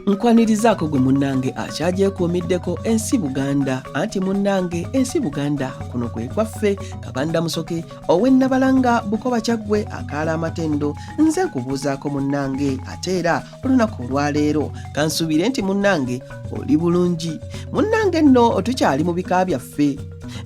Nkwanirizaako gwe munnange akyagyekuumiddeko ensi Buganda anti munnange ensi Buganda kuno kwe kwaffe kabanda musoke ow'e Nabalanga Bukoba Kyaggwe akaala amatendo nze nkubuuzaako munnange ate era olunaku olwaleero kansuubire nti munnange oli bulungi munnange nno tukyali mu bika byaffe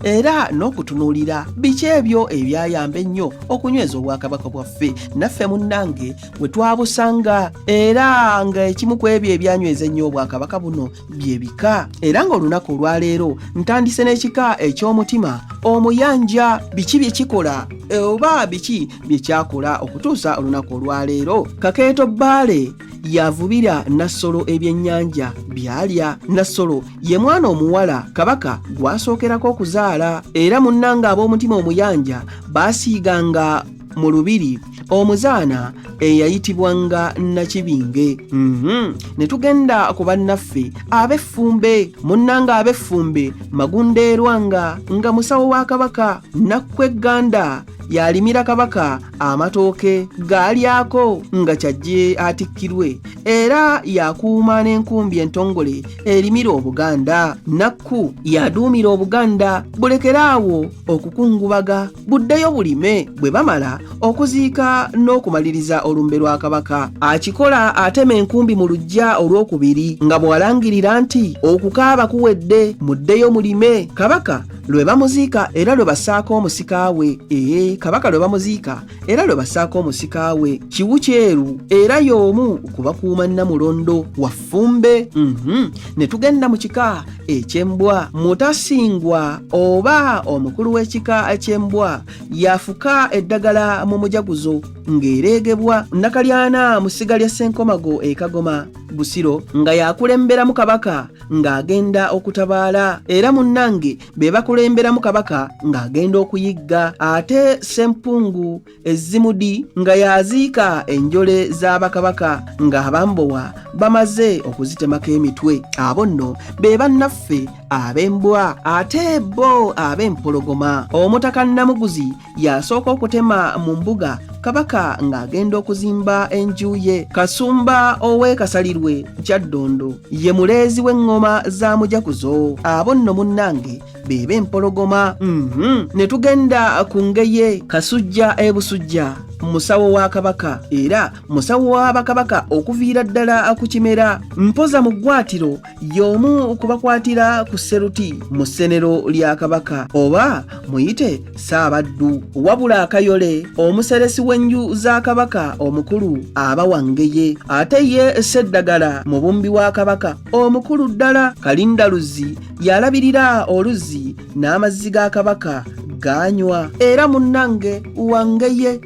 era n'okutunuulira biki ebyo ebyayamba ennyo okunyweza obwakabaka bwaffe naffe munnange we twabusanga era nga ekimu ku ebyo ebyanyweza ennyo obwakabaka buno bye bika era ng'olunaku olwaleero ntandise n'ekika eky'omutima omuyanja biki bye kikola e, oba biki bye kyakola okutuusa olunaku olwaleero kakeeto bbaale yavubira nassolo ebyennyanja byalya nassolo ye mwana omuwala kabaka gwasookerako okuzaala era munnanga ab'omutima omuyanja baasiiganga mu lubiri omuzaana eyayitibwanga nakibinge mhm. ne tugenda ku bannaffe ab'effumbe munnanga ab'effumbe magundeerwa nga nga musawo wa kabaka nakkwe gganda yalimira kabaka amatooke gaalyako nga kyajje atikkirwe era yakuuma n'enkumbi entongole erimira obuganda nakku yaduumira obuganda bulekera awo okukungubaga buddeyo bulime bwe bamala okuziika n'okumaliriza olumbe lwa kabaka akikola atema enkumbi mu lujja olwokubiri nga bw'alangirira nti okukaaba kuwedde muddeyo mulime kabaka lwe bamuziika era lwe basaako omusika we ee kabaka lwe bamuziika era lwe basaako omusika we kiwu kyeru era y'omu ku bakuuma nnamulondo waffe fumbe mm -hmm. ne tugenda mu kika eky'embwa mutasingwa oba omukulu w'ekika eky'embwa yafuka eddagala mu mujaguzo ng'ereegebwa nakalyana mu ssiga lya ssenkomago e kagoma busiro nga yakulemberamu kabaka ng'agenda okutabaala era munnange be bakulemberamu kabaka ng'agenda okuyigga ate sempungu ezzimudi nga yaziika enjole za bakabaka ng'abambowa bamaze okuzitemako emitwe abo nno be bannaffe ab'embwa ate bo ab'empologoma omutaka namuguzi yasooka okutema mu mbuga kabaka ng'agenda okuzimba enju ye kasumba ow'ekasalirwe kyaddondo ye muleezi w'eŋŋoma za mujakuzo abo nno munnange beba empologoma mm -hmm. ne tugenda ku ngeye kasujja ebusujja musawo wa kabaka era musawo wa bakabaka okuviira ddala ku kimera mpoza mu ggwatiro y'omu kubakwatira ku seruti mu ssenero lya kabaka oba muyite saabaddu wabula akayole omuseresi w'enju za kabaka omukulu aba wangeye ate ye seddagala mubumbi wa kabaka omukulu ddala kalindaluzi yalabirira oluzzi n'amazzi ga kabaka gaanywa era munnange wangeye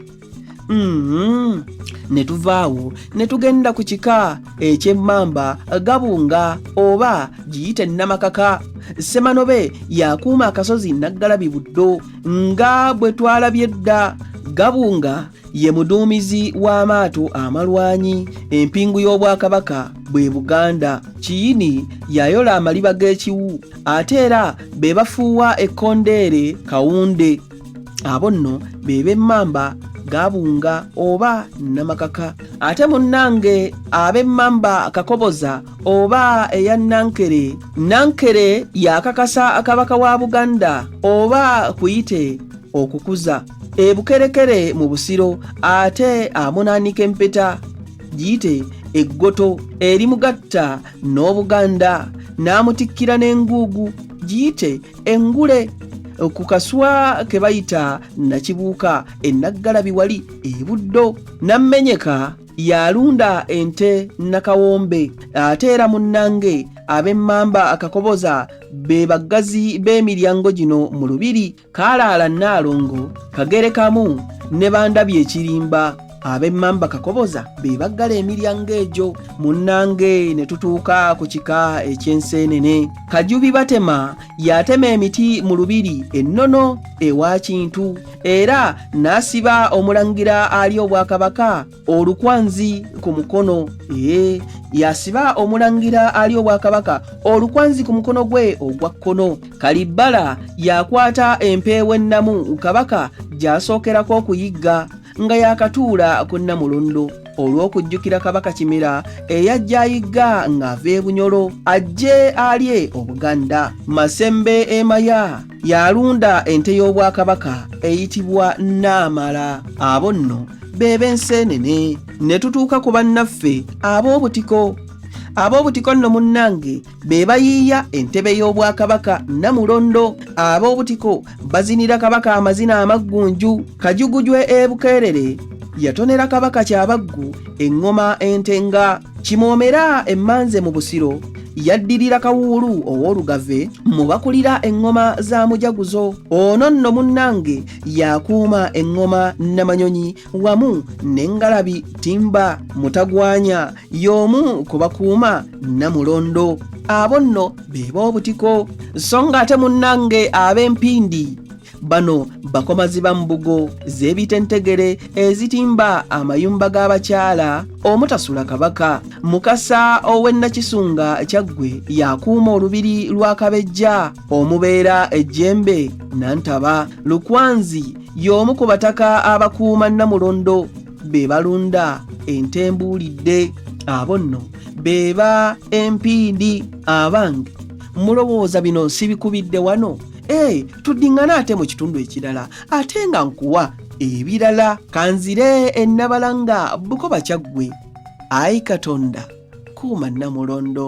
mm-hmm. ne tuvaawo ne tugenda ku kika eky'emmamba gabunga oba giyite nnamakaka ssemanobe yakuuma akasozi naggalabi buddo nga bwe twalabye dda gabunga ye muduumizi w'amaato amalwanyi empingu y'obwakabaka bwe buganda kiyini yayola amaliba g'ekiwu ate era be bafuuwa ekkondeere kawunde abo nno be b'emmamba gabunga oba namakaka ate munnange ab'emmamba kakoboza oba eya nankere nankere yakakasa akabaka wa buganda oba kuyite okukuza ebukerekere mu busiro ate amunanika empeta giyite eggoto erimugatta n'obuganda n'amutikkira n'enguugu giyite engule ku kaswa ke bayita nakibuuka ennaggalabi wali ebuddo nammenyeka yalunda ente nakawombe ate era munnange ab'emmamba akakoboza be baggazi b'emiryango gino mu lubiri kaalaala nnaalongo kagere kamu ne bandabye ekirimba ab'emmamba kakoboza be baggala emiryango egyo munnange ne tutuuka ku kika eky'enseenene kajubi batema yatema emiti mu lubiri ennono ewa kintu era n'asiba omulangira ali obwakabaka olukwanzi ku mukono ee yasiba omulangira ali obwakabaka olukwanzi ku mukono gwe ogwa kkono kalibbala yakwata empeewo ennamu kabaka gy'asookerako okuyigga nga yakatuula ku nnamulondo olw'okujjukira kabaka kimera eyajja ayigga ng'ava ebunyolo ajje alye obuganda masembe emaya yalunda ente y'obwakabaka eyitibwa naamala abo nno be b'enseenene ne tutuuka ku bannaffe ab'obutiko ab'obutiko nno munnange be bayiiya entebe y'obwakabaka namulondo ab'obutiko bazinira kabaka amazina amaggunju kajugujwe ebukeerere yatonera kabaka kyabaggu eŋŋoma entenga kimoomera emmanze mu busiro yaddirira kawuulu ow'olugave mu bakulira eŋŋoma za mujaguzo ono nno munnange yakuuma eŋŋoma namanyonyi wamu n'engalabi timba mutagwanya y'omu ku bakuuma namulondo abo nno be b'obutiko so ng'ate munnange ab'empindi bano bakomazi ba mbugo z'ebitentegere ezitimba amayumba g'abakyala omutasula kabaka mukasa ow'e nakisunga kyaggwe yakuuma olubiri lwa kabejja omubeera ejjembe nantaba lukwanzi y'omu ku bataka abakuuma namulondo be balunda ente mbuulidde abo nno beeba empiindi abange mulowooza bino sibikubidde wano Hey, tuddiŋŋana ate mu kitundu ekirala ate nga nkuwa ebirala kanzire ennabala nga bukoba kyaggwe ayi katonda kuuma nnamulondo